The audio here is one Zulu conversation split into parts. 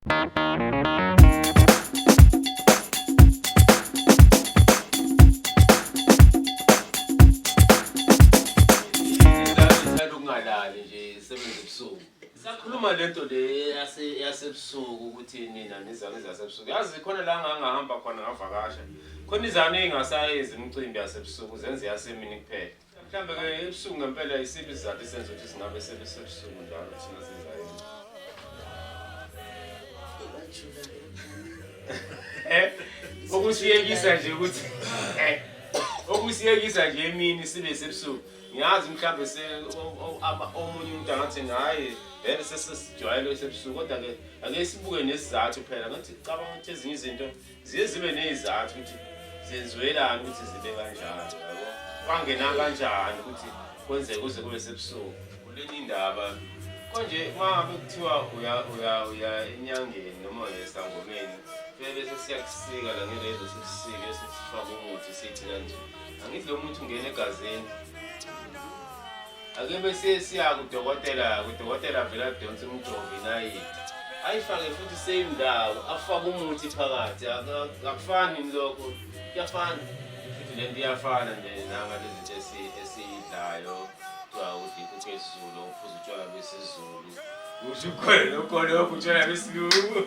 Ngithanda ukungalali nje sebenza ebusuku. Sakhuluma lento le yase yasebusuku ukuthi nina nizane zasebusuku. Yazi khona la ngangahamba khona ngavakasha. Khona izane engasayenzi imicimbi yasebusuku zenze yasemini kuphela. Mhlambe ke ebusuku ngempela isiphi isizathu esenza ukuthi singabe sebesebusuku njalo thina siza yini? Eh, okusiyekisa nje ukuthi eh, okusiyekisa nje emini sibe sebusuku. Ngiyazi mhlambe se o- o- ama- omunye umuntu angathi ngaye vele sesesijwayele sebusuku kodwa ke ake sibuke nesizathu phela ngathi cabanga ukuthi ezinye izinto ziye zibe ney'zathu ukuthi zenziwelani ukuthi zibe kanjalo yabo kwangena kanjani ukuthi kwenzeke kuze kube sebusuku kuleni indaba konje uma ngabe kuthiwa uya uya uya enyangeni noma uya esangomeni fike bese siyakusika la ngelezo sikusike sesifaka umuthi sithi kanje angithi lo muthi ungena egazini ake bese siya kudokotela kudokotela vele adonse umjovi nayithi ayifake futhi same ndawo afake umuthi phakathi akufani lokho kuyafana futhi lento iyafana nje nanga lezinto esiyidlayo kuthiwa udikho kwezulu uphuza utshwala lwesizulu usho khona lokho lokho utshwala lwesilungu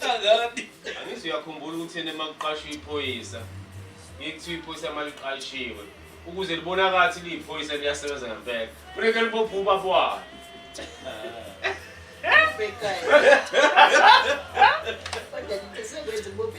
Sangani. Angithi uyakhumbula ukuthi yena makuqashwa iphoyisa. Ngikuthiwa iphoyisa maliqashiwe. Ukuze libonakala ukuthi liyiphoyisa liyasebenza ngempela. Kufanele libophe ubaba wakhe. Bhekayo. Kodwa ngicela ukwenza ubophe